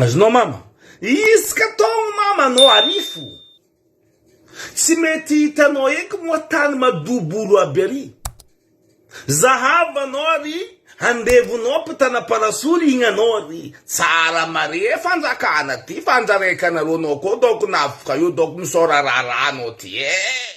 Azonao mama. Iska taogno mama anao arifo. Tsy mety hitanao eky moa tany madobolo aby ary. Zahava anao ary andevonao mpitana parasolo igny anao ary. Tsara mare fanjakana ty fa andraraiky anareo anao koa donc navoka eo donc misaora raharaha anao ty eh.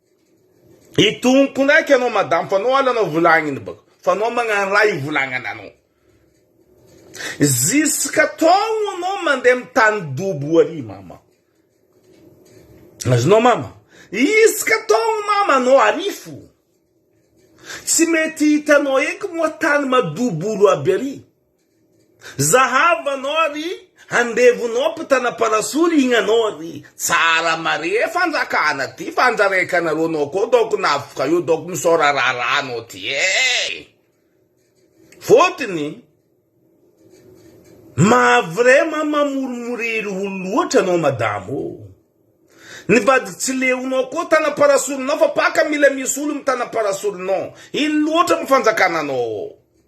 Itonoko ndraiky anao madame fa anao ala anao volagniny baka fa anao magnano raha ivolagnany anao. Ziska taogno anao mandeha amin'ny tany dobo ary mama. Azonao mama. Iska taogno mama anao arifo. Tsy mety hitanao eky moa tany madobolo aby ary. Zahavo anao ary andevonao mpitana parasolo igny anao ary tsara mare fanjakana ty fa anjaraikanareo anao koa donc navoka eo donc misaora raharaha anao ty eh! Fotony maha vraiment mamoromoriry olo loatra anao madamo o! Ny vady tsy leonao koa tana parasolonao fa paka mila misy olo mitana parasolonao! Ino loatra mo fanjakana anao o!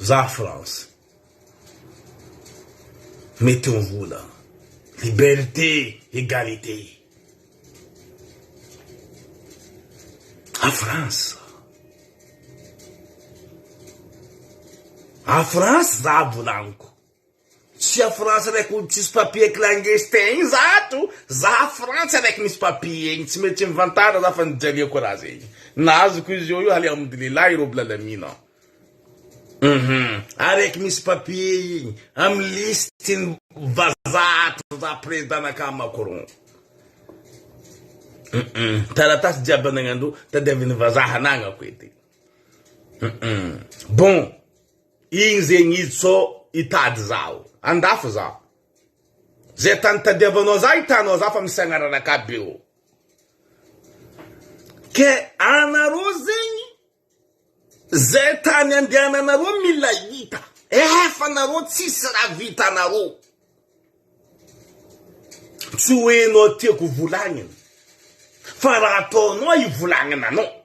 Za France mety ho vola liberté egalité a France a France za volaniko. Tsy a France raiky olo tsisy papier clangestin igny za ato, za a frantsa raiky misy papier igny, tsy mety mivantara za fa nijaliako raha zegny na azoko izy eo io halihamdulillah i robil alamin an, hum araiky misy papier igny am liste ny vazaha ato za president nakà Macron hum taratasy jiaby anagnandreo tadiaviny vazaha anagnako edy hum bon. Igny zegny izy co hitady zaho. Andafy zaho. Zay tany hitadiavanao zaho hitanao zaho fa misy agnarana akaby eo. Ke anareo zegny zay tany andehananareo mila hita. Efa nareo tsisy raha vitanareo. Tsy hoe enao tiako volagnina fa raha ataonao ivolagnananao.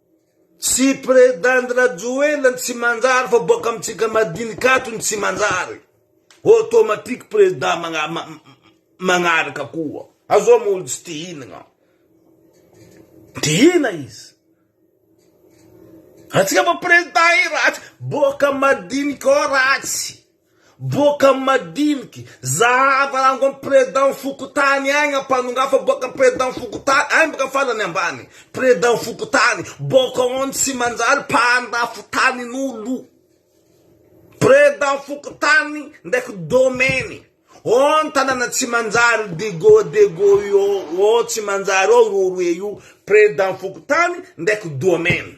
Tsy president Rajoelina ny tsy manjary fa boaka amintsika madinika ato ny tsy manjary. Automatique president magna, magnaraka koa. Azo am olo tsy tihinagna. Tihina izy. Atsika fa president i ratsy, boaka madinika ao ratsy. Boaka madiniky, zahava rango am president fokotany agny ampanongafa boaka am president fokotany agny boka farany ambany president fokotany boka on tsy manjary mpandafo tanin olo president fokotany ndraiky domaine on tanana tsy manjary dego dego io on tsy manjary ao roa roe io president fokotany ndraiky domaine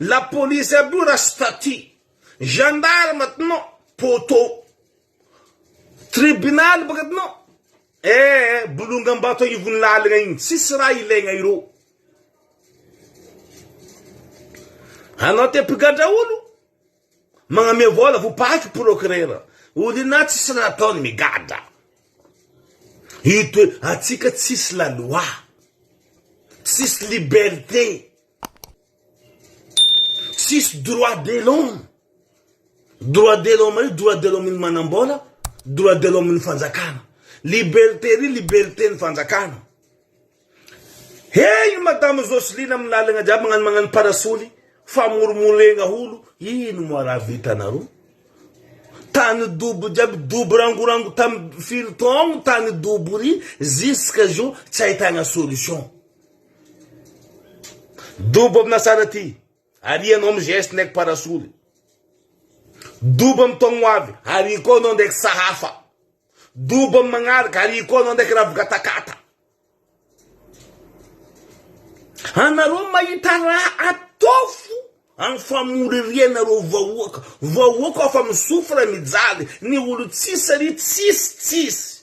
Lapolisy aby io ra staty. Gendarme aty no poteau. Tribunal baka aty no eh bolongam-bato agnivon'ny lalagna igny. Tsisy raha ilaigna ireo. Anao te mpigadra olo? Magnamia vola vao paky procureur. Olo ina tsisy raha ataony migadra. Ito atsika tsisy la loi. Tsisy liberté. Tsisy droit de l'homme, droit de l'homme io droit de l'homme ny manambola, droit de l'homme ny fanjakana, liberté ry liberté ny fanjakana. Hey madame Joseline amin'ny lalagna jiaby magnano magnano parasoly, famorimoregna olo, ino moa raha vitanareo? Tany dobo jiaby, dobo rangorango tamin'ny firy taogno tany dobo ry, jusqu'à zao tsy ahitagna solution. Dobo amina sara ty, arianao am geste ndraiky parasoly. Dobo am taogno ho avy, ariko anao ndraiky sahafa. Dobo am magnaraka, ariko anao ndraiky ravigatakata. Anareo mahita raha ataofo am famoririanareo vahoaka. Vahoaka afa misofra mijaly, ny olo tsisy saria tsisy tsisy.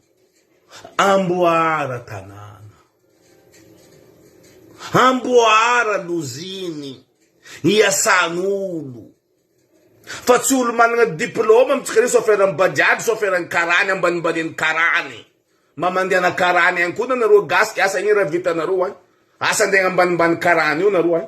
Amboara tanàna. Amboara loziny iasan'olo fa tsy olo managna diploma mintsy kare soferan'ny bajaj, soferan'ny karany ambanimbanin'ny karany, mba mandeana karany ihany koa nareo gasy asa ino raha vitanareo an? Asa andeha ambanimbany karany io nareo an?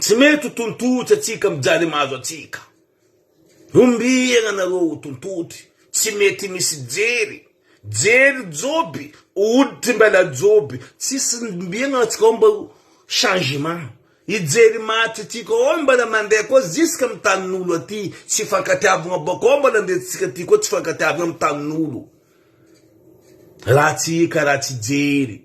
Tsy mety ho tontotry antsika mijaly mahazo antsika. Ombiana nareo ho tontotry, tsy mety misy jery. Jery joby, hoditry mbala joby, tsisy ombiana antsika ao mba ho changement. I jery maty tika ao mbala mandeha koa ziska amin'ny tanin'olo aty, tsy ifankatiavana bako ao mbala andeha tsika aty koa tsy ifankatiavana amin'ny tanin'olo. Ratsy ika, ratsy jery.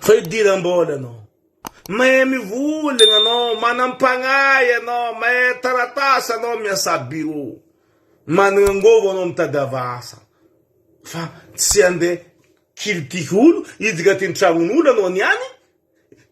Fa idiram-bola ianao. Mahay mivolagna ianao, manam-pagnahy ianao, mahay taratasy ianao, miasa birô. Managna angovo ianao mitadiava asa. Fa tsy handeha kilitiky olo, hiditra an-tragnon'olo ianao niany.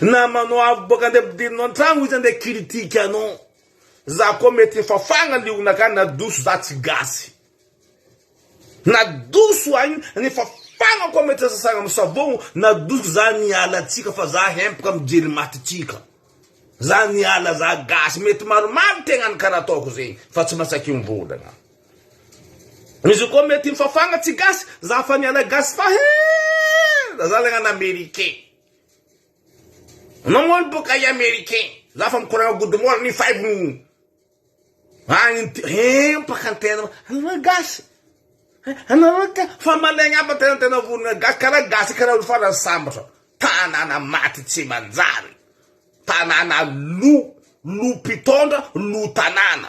Namanao avy boka ande ampidirina ao antragno izy ande critique anao. Za koa mety efa fagna liogna ka nadoso za tsy gasy. Nadoso agny nefa fagna koa mety sasagna am savogno nadoso za miala atsika fa za hempaka mijery maty tsika. Za miala za gasy mety maromaro tegna ny kara ataoko zegny fa tsy masaky mivolagna. Izy io koa mety mifafagna tsy gasy za fa miala gasy fa he za zalahy an americain namono boka i americain za fa mikoragna good morning five minutes agny ty he mpaka antena anareo gasy anareo ka fa malegna aby tena tena vonona gasy karaha gasy karaha olo farany sambatra tanana maty tsy manjary tanana lo lo mpitondra lo tanana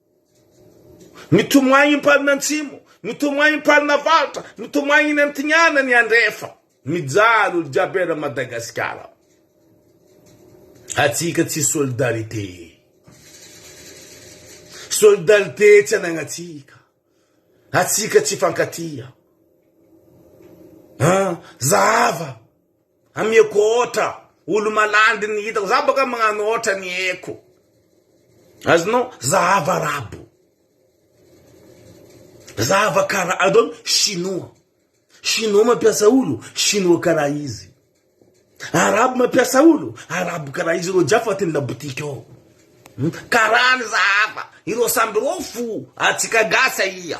Mitomany mpanina antsimo, mitomany mpanina avaratra, mitomany eny antignana ny andrefa. Mijaly olo jiaby eran Madagasikara. Atsika tsy solidarité. Solidarité tsy anagnatsika. Atsika tsy fankatia. An, zahava. Amiako otra olo malandy ny hitako za boka magnano otra ny eko azonao zahava arabo zahava kara adon chinois chinois mampiasa olo chinois kara izy arabo mampiasa olo arabo kara izy ro jiafa atin labotika ao karany zahava ireo samby reo fo atsika gasy aia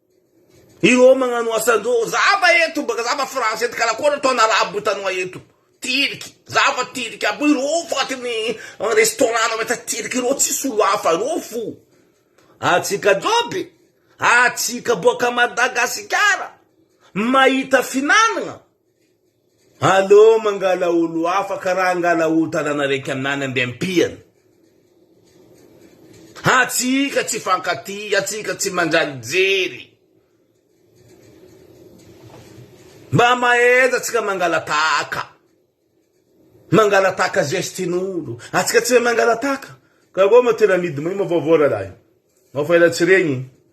Ireo magnano asan-dreo, zava eto baka zava français ty kala koana ataon' arabo hitanao eto, tiliky, zava tiliky aby io, ireo fo atiny restaurant nao mahita tiliky ireo tsisy olo hafa ireo fo, atsika joby, atsika boaka Madagasikara mahita finanana, Aleo mangala olo hafa ka raha angala olo tanàna raiky aminany andeha ampiany. Antsika tsy hifankatia, antsika tsy manjary jery. Mba mahaiza tsika mangala tahaka. Mangala tahaka zestin'olo. Antsika tsy mahay mangala tahaka. Ka vao ma tena midy mahay ma vaovao rahalahy. Mafaela tsy regny.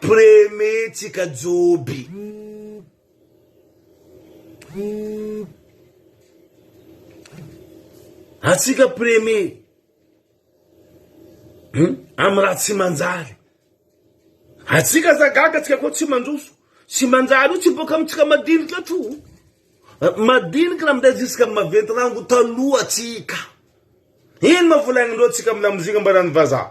Premier tsika Joby. Atsika premier. Hmm? Amin'ny raha tsy manjary. Atsika za gaga tsika koa tsy mandroso. Tsy manjary io tsy boka amintsika madinika atro. Eh, madinika na minday ziska maventy rango taloha tsika. Ino ma volagnindreo tsika amin'ny lamozika mba rano vazaha.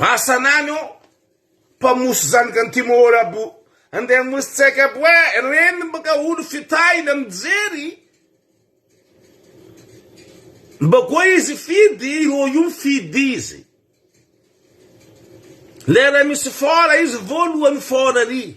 Asanany ô! Mpamoso zanaky ny Timor bo! Andeha hamoso tseka bo e! Reniny baka olo fitahina mijery! Mba koa izy fidy, io io fidy izy! Lera misy fort izy voalohany fort ry!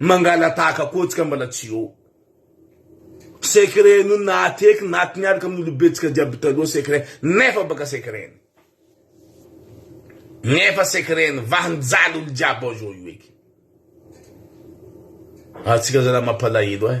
Mangalatahaka koa tsika mbala tsy eo. Secret no nahateky naty niaraka amin'ny olobetsika jiaby taloha secret nefa baka secret ny. Nefa secret ny vaha nijaly olo jiaby ao zao io eky. Atsika zalahy mampalahelo ahy.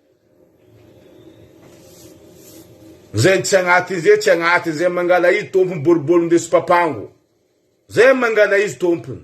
Zay tsy agnaty izay tsy agnaty izay mangala izy tompony boribory ndeso papango zay mangala izy tompony